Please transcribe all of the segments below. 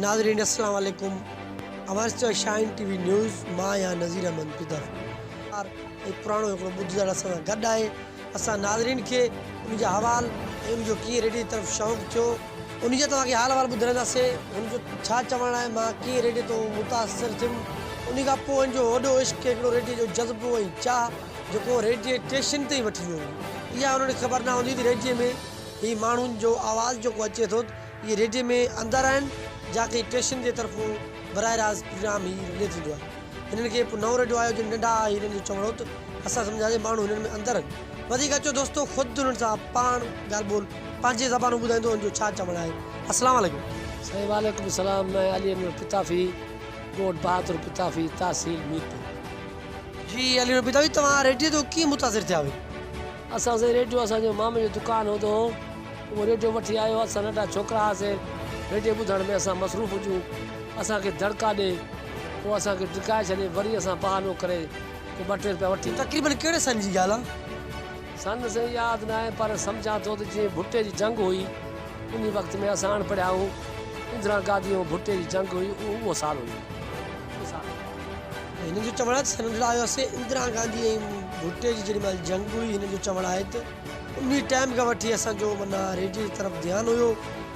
ناظرين اسلام عليڪم اوهانس جو شاهين ٽي وي نيوز مان آهيان نظير احمد پڌر ار ۽ پراڻو هڪڙو ٻڌ جڙ اسان سان گڏ آهي اسان ناظرين کي ان جا حوال ۽ ان جو ڪيئن ريڊيو جي طرف شوق ٿيو ان جا توهان کي حال احوال ٻڌرائينداسي ان جو ڇا چوڻ آهي مان ڪيئن ريڊيو تون متاثر ٿيم ان کان پوء ان جو وڏو عشق هڪڙو ريڊيو جو جذبو ۽ چاهه جيڪو ريڊيو ٽيشن تي وٺي ويو هو اها انهن کي خبر نه هوندي ته ريڊيو ۾ هي ماڻهن جو آواز جيڪو اچي ٿو اهي ريڊيي ۾ اندر آهن جا ڪنهن ٽيشن جي طرفون براه راست پرينام هي رلي ٿيندو آهي. هنن کي هڪ نئون ريڊيو آيو جن ننڍا آهي هيرن جو چوڻ هو ته اسان سمجهيا سي ماڻهو هنن ۾ اندر آهن. وڌيڪ اچو دوستو خود هنن سان پاڻ ڳالهه ٻولهه پنهنجي زبانون ٻڌائيندو هن جو ڇا چوڻ آهي. السلام عليڪم. سائين وعليڪم السلام مين علي نور پتافي ڳوٺ بهادر پتافي تحصيل ميرپور. جي علي نور پتافي توهان ريڊيو تون ڪيئن متاثر ٿيا هيو. اسان سائين ريڊيو اسان جو مامي جو دڪان هوندو هو اهو ريڊيو وٺي آيو اسان ننڍا ڇوڪرا هئاسين ريڊيو ٻڌڻ ۾ اسان مصروف هجون اسان کي دڙڪا ڏي پوء اسان کي ڊڪائي ڇڏي وري اسان بهانو ڪري ڪو ٻه ٽي روپيا وٺي تقريبن ڪهڙي سن جي ڳالهه آ؟ سن سائين ياد ناهي پر سمجهان ٿو ته جيئن ڀٽي جي جنگ هئي انهي وقت ۾ اسان اڻپڙهيا هئون اندرا گاڌي ۽ ڀٽي جي جنگ هئي اهو اهو سال هيو. هن جو چوڻ آهي ته سرنڊر آيو آهي سي اندرا گانڌي ۽ ڀٽي جي جيڏي مهل جنگ هئي هن جو چوڻ آهي ته انهي ٽائيم کان وٺي اسان جو معنيٰ ريڊيو جي طرف ڌيان هيو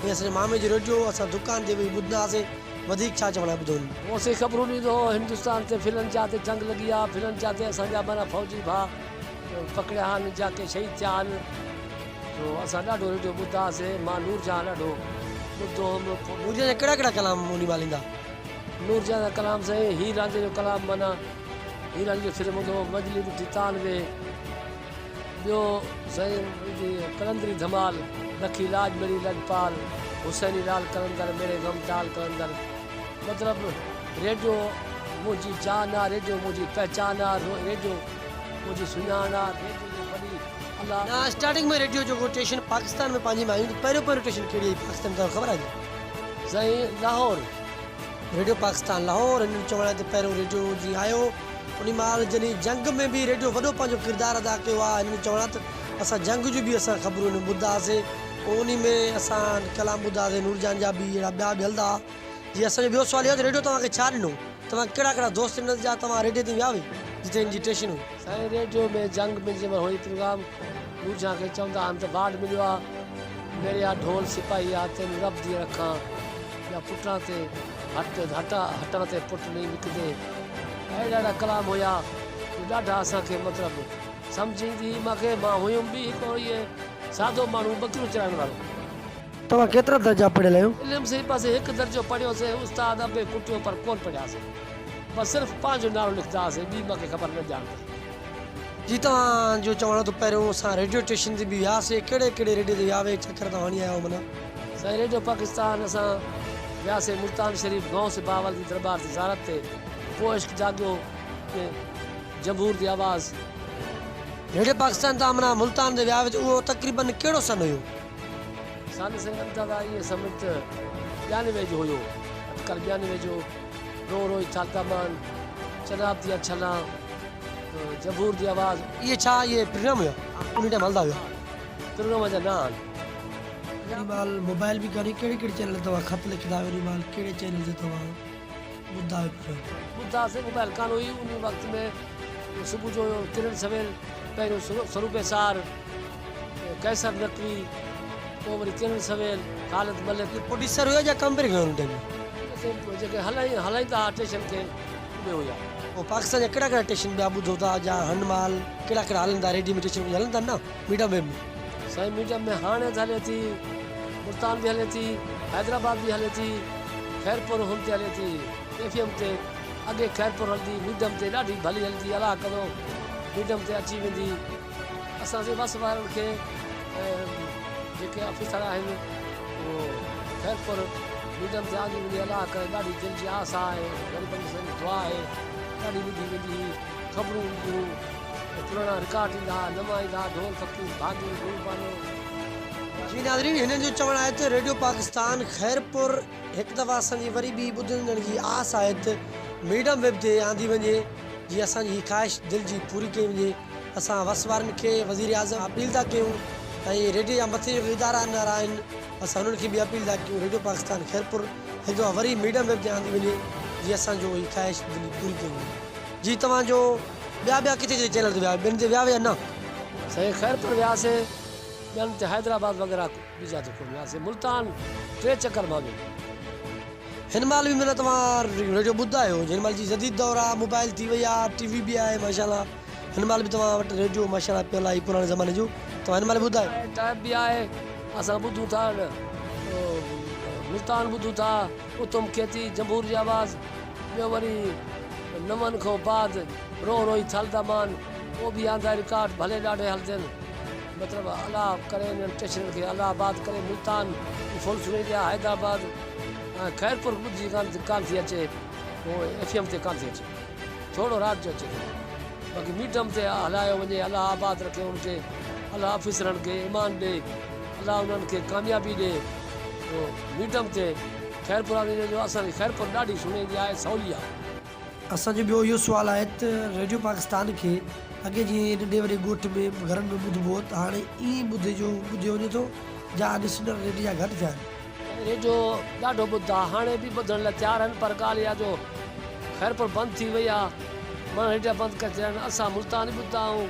۽ اسان جي مامي جو ريڊيو هو اسان دڪان تي ويهي ٻڌندا هئاسين وڌيڪ ڇا چوڻ آهي ٻڌو هن. هو اسان کي خبرون ڏيندو هو هندستان تي ڦلن جا تي جنگ لڳي آهي ڦلن جا تي اسان جا معنيٰ فوجي ڀاء پڪڙيا آهن جا ڪي شهيد ٿيا آهن سو اسان ڏاڍو ريڊيو ٻڌدا هئاسين مان نور جهان ڏاڍو ٻڌدو هوم. نور جهان جا ڪهڙا ڪهڙا ڪلام انهي مهل ايندا. نور جهان جا ڪلام سائين هير رانجهي جو ڪلام معنيٰ هير رانجهي جو سر ٻڌو مجلي ٻڌي تان ويهه ٻيو سائين جي قلندري ڌمال لکي لاج مڙي لجپال حسيني لال قلندر ميري غم ٽال قلندر مطلب ريڊيو منهنجي جان آ ريڊيو منهنجي پهچان آ ريڊيو منهنجي سڃاڻ آ ريڊيو جو بلي الله نا اسٽارٽنگ ۾ ريڊيو جو ٽيشن پاڪستان ۾ پنهنجي ۾ آيون ته پهريون پهريون ٽيشن ڪهڙي آئي پاڪستان ۾ توهان کي خبر آهي سائين لاهور ريڊيو پاڪستان لاهور هن جو چوڻ آهي ته پهريون ريڊيو جي آيو انهي مهل جنهن جنگ ۾ به ريڊيو وڏو پنهنجو ڪردار ادا ڪيو آهي هن جو چوڻ آهي ته اسان جنگ جون به اسان خبرون هن ۾ ٻڌندا هئاسين پوء انهي ۾ اسان ڪلام ٻڌندا هئاسين نور جهان جا به اهڙا ٻيا به هلندا هئا جي اسان جو ٻيو سوال اهو آهي ته ريڊيو توهان کي ڇا ڏنو توهان کي ڪهڙا ڪهڙا دوست ڏنس جا توهان ريڊيو تي ويا هئي جتي هن جي ٽيشن هئي. سائين ريڊيو ۾ جنگ ۾ جنهن مهل هئي پروگرام نور جهان کي چوندا هئا ته وارڊ مليو آهي ميڙيا ڍول سپاهي آ تين رب دي رکان. يا پٽڻ تي هٽ هٽا هٽڻ تي پٽ ني وڪدي اهڙا اهڙا ڪلام هيا جو ڏاڍا اسان کي مطلب سمجهه ايندي هئي مان کي مان هيم به هڪ اهو ئي سادو ماڻهو ٻڪريون چرائڻ وارو. توهان ڪيترا درجا پڙهيل آهيو؟ علم سي بس هڪ درجو پڙهيو سي استاد انبي ڪٽيو پر ڪون پڙهيا سي بس صرف پنهنجو نالو لکندا هئاسي ٻي مان کي خبر نه ڄاڻ تائين. جي توهان جو چوڻ آهي ته پهريون اسان ريڊيو اسٽيشن تي به ويا سي ڪهڙي ڪهڙي ريڊيو تي ويا هئي چڪر توهان هڻي آيا آهيو منا. سائين ريڊيو پاڪستان اسان وياسي ملتان شريف غوث بهاول جي دربار جي زيارت تي پوء عشق جاڳيو ۾ جمهور جي آواز. ريڊيو پاڪستان تان امنا ملتان تي ويا هئا ته اهو تقريباً ڪهڙو سن هيو؟ سن سنگم دادا ائين سمجھ ته ٻيانوي جو هيو اٽڪل ٻيانوي جو رو روئي ٿا دامان چناب ديا ڇلان جمهور جي آواز. اهي ڇا اهي پروگرام هيا انهي ٽائيم هلندا هيا. پروگرام جا نانء آهن. وري مال موبائل به ڪاني ڪهڙي ڪهڙي چينل توهان خط لکندا آهيو وري مال ڪهڙي چينل تي توهان ٻڌندا آهيو پروگرام. ٻڌا سائين موبائل ڪانه هئي انهي وقت ۾ صبح جو ڪرن سويل پهريون سروپ ايسار قيصر نقوي پوء وري ڪرن سويل خالد ملڪ. پروڊيوسر هيا جا ڪمبري هيا ان ٽيم. سائين جيڪي هلائين هلائيندا هئا ٽيشن کي اهي هيا. پوء پاڪستان جا ڪهڙا ڪهڙا ٽيشن ٻيا ٻڌو ٿا جا هن مال ڪهڙا ڪهڙا هلندا ريڊيو ۾ ٽيشن ڪجهه هلندا نه. Medium wave ۾. سائين ميڊيم ۾ هاڻي ته هلي ٿي ملتان به هلي ٿي حيدرآباد به هلي ٿي خيرپور هن تي هلي ٿي ايف ايم تي اڳي خيرپور هلندي ميڊيم تي ڏاڍي ڀلي هلندي الله ڪندو ميڊيم تي اچي ويندي اسان جي وس وارن کي جيڪي آفيسر آهن اهو خيرپور ميڊيم تي آندي ويندي الله ڪري ڏاڍي دل جي آس آهي غريبن جي ساري دعا آهي ڏاڍي ٻڌي ويندي خبرون هونديون ته پراڻا رڪارڊ ايندا، نوان ايندا، ڍول فقير، ڀاڳي، گل بانو. جي ناظرين هنن جو چوڻ آهي ته ريڊيو پاڪستان خيرپور هڪ دفعه اسان جي وري ٻي ٻڌندڙن جي آس آهي ته ميڊم ويب تي آندي وڃي جي اسان جي هي خواهش دل جي پوري ڪئي وڃي اسان وس وارن کي وزير اعظم اپيل ٿا ڪيون ۽ ريڊيو جا مٿي جيڪي ادارا انارا آهن اسان انهن کي به اپيل ٿا ڪيون ريڊيو پاڪستان خيرپور هڪ دفعه وري ميڊم ويب تي آندي وڃي جي اسان جو هي خواهش دل جي پوري ڪئي وڃي. جي توهان جو ٻيا ٻيا ڪٿي ڪٿي چينل تي ويا ٻين تي ويا ويا نه. سائين خير پر وياسي ٻين تي حيدرآباد وغيره ٻي جاء تي ڪون وياسي ملتان ٽي چڪر مان ٻين تي. هن مهل به معنيٰ توهان ريڊيو ٻڌندا آهيو هن مهل جي جديد دور آ موبائل ٿي وئي آ ٽي وي به آهي ماشاء الله هن مهل به توهان وٽ ريڊيو ماشاء الله پيل آهي پراڻي زماني جو توهان هن مهل به ٻڌايو. ٽيپ به آهي اسان ٻڌون ٿا ملتان ٻڌون ٿا. اتم کيتي جنبور جي آواز ٻيو وري نون کان بعد روء روئي ٿل دا مان او بي آندا رڪارڊ ڀلي ڏاڍي هلدين مطلب الا ڪري انهن اسٽيشنن کي الا آباد ڪري ملتان ۽ فل سني جا حيدر آباد ۽ خيرپور ٻڌجي ڪان ٿي اچي هو ايف ايم تي ڪان ٿي اچي ٿورڙو رات جو اچي ٿو باقي ميڊم تي هلايو وڃي الا آباد رکي ان کي الا آفيسرن کي ايمان ڏي الا انهن کي ڪاميابي ڏي. جو ميڊم تي خيرپور آندي وڃي جو اسان جي خيرپور ڏاڍي سهڻي هوندي آهي سولي آهي. اسان جو ٻيو اهو سوال آهي ته ريڊيو پاڪستان کي اڳي جيئن ننڍي وڏي ڳوٺ ۾ گهرن ۾ ٻڌبو هو ته هاڻي ائين ٻڌي جو ٻڌيو وڃي ٿو جا اڄ سنر ريڊي جا گهٽ ٿيا آهن. ريڊيو ڏاڍو ٻڌدا ها هاڻي به ٻڌڻ لاء تيار آهن پر ڳالهه اها جو خيرپور بند ٿي وئي آهي ماڻهن ريڊيا بند ڪري ڇڏيا آهن اسان ملتان ئي ٻڌدا آهيون.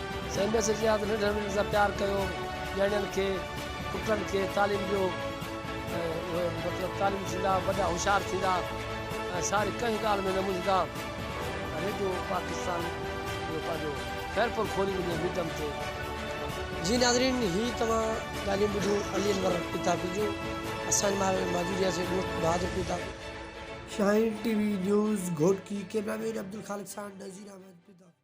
سائين ميسي جي ياد ننڍڙن وڏڙن سان پيار ڪيو نياڻين کي پٽن کي تعليم ڏيو ۽ اهي مطلب تعليم ٿيندا وڏا هوشيار ٿيندا ۽ ساري ڪنهن ڳالهه ۾ نه منجهندا ريڊيو پاڪستان جو پنهنجو خيرپور کولي وڃي ميڊم تي جي ناظرين هي توهان ڳالهيون ٻڌيون علي انور پتاپي جون اسان مارئي ۾ موجود رهياسي دوست Bahadur Patapi. Shaheen T V news Ghotki cameraman Abdulkhaliq سان نذير احمد پتاپي.